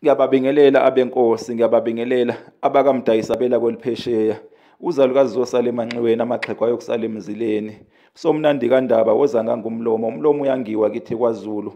ngiyababingelela abenkosi ngiyababingelela abakamdayisabela kweliphesheya uzalukazi zosala emanxiweni amaxhego ayokusala emzileni somnandi kandaba woza ngangumlomo umlomo uyangiwa kithi kwazulu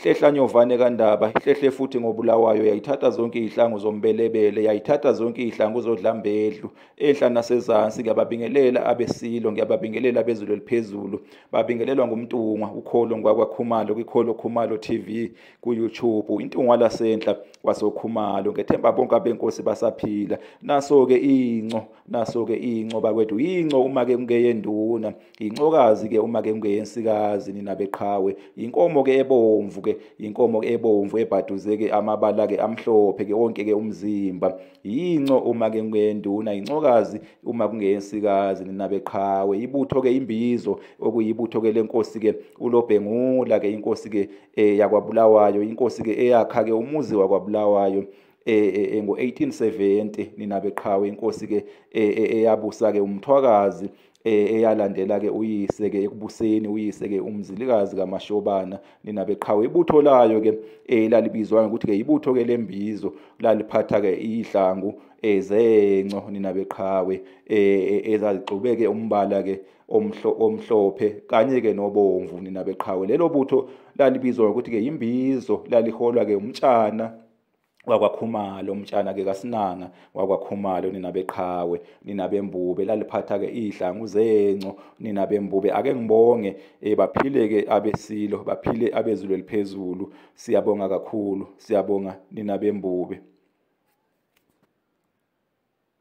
hlehla nyovane kandaba ihlehle futhi ngobulawayo yayithatha zonke izihlangu zombelebele yayithatha zonke izihlangu zodlambedlu ehla nasezansi ngiyababingelela abesilo ngiyababingelela abezulu eliphezulu babingelelwa ngumntungwa ukholo ngwakwakhumalo kwikholo khumalo tv kuyoutube intungwa lasenhla kwasokhumalo ngethemba bonke abenkosi basaphila naso-ke inco naso-ke inco bakwethu yinco uma-ke kungeyenduna yincokazi-ke uma-ke kungeyensikazi nina beqhawe yinkomo-ke ebomvu-ke yinkomo-ke ebomvu ebhaduze-ke amabala-ke amhlophe-ke wonke-ke umzimba yinco uma ke kuyenduna yincokazi uma kungeyensikazi nina beqhawe ibutho ke imbizo okuyibutho ke lenkosi ke ulobhengula ke inkosi ke eh, yakwabulawayo inkosi ke eyakha ke umuzi wakwabulawayo eh, eh, eh ngo-1870 nina beqhawe inkosi ke eh, eh, eyabusa ke umthwakazi Eh, eyalandela-ke uyise-ke ekubuseni uyise-ke umzilikazi kamashobana ninabeqhawe ibutho layo-ke um eh, lalibizwa ngokuthi-ke ibutho-ke lembizo laliphatha-ke iyihlangu um eh, zenco ninabeqhawe um ezazigxubeke umbala-ke omhlophe kanye-ke nobomvu ninabeqhawe lelo butho lalibizwa ngokuthi-ke yimbizo laliholwa-ke umtshana wakwakhumalo umtshana ke kasinanga wakwakhumalo nina beqhawe nina bembube laliphatha ke idlangu zenco nina bembube ake ngibonge eh, baphile ke abesilo baphile abezulu eliphezulu siyabonga kakhulu siyabonga nina bembube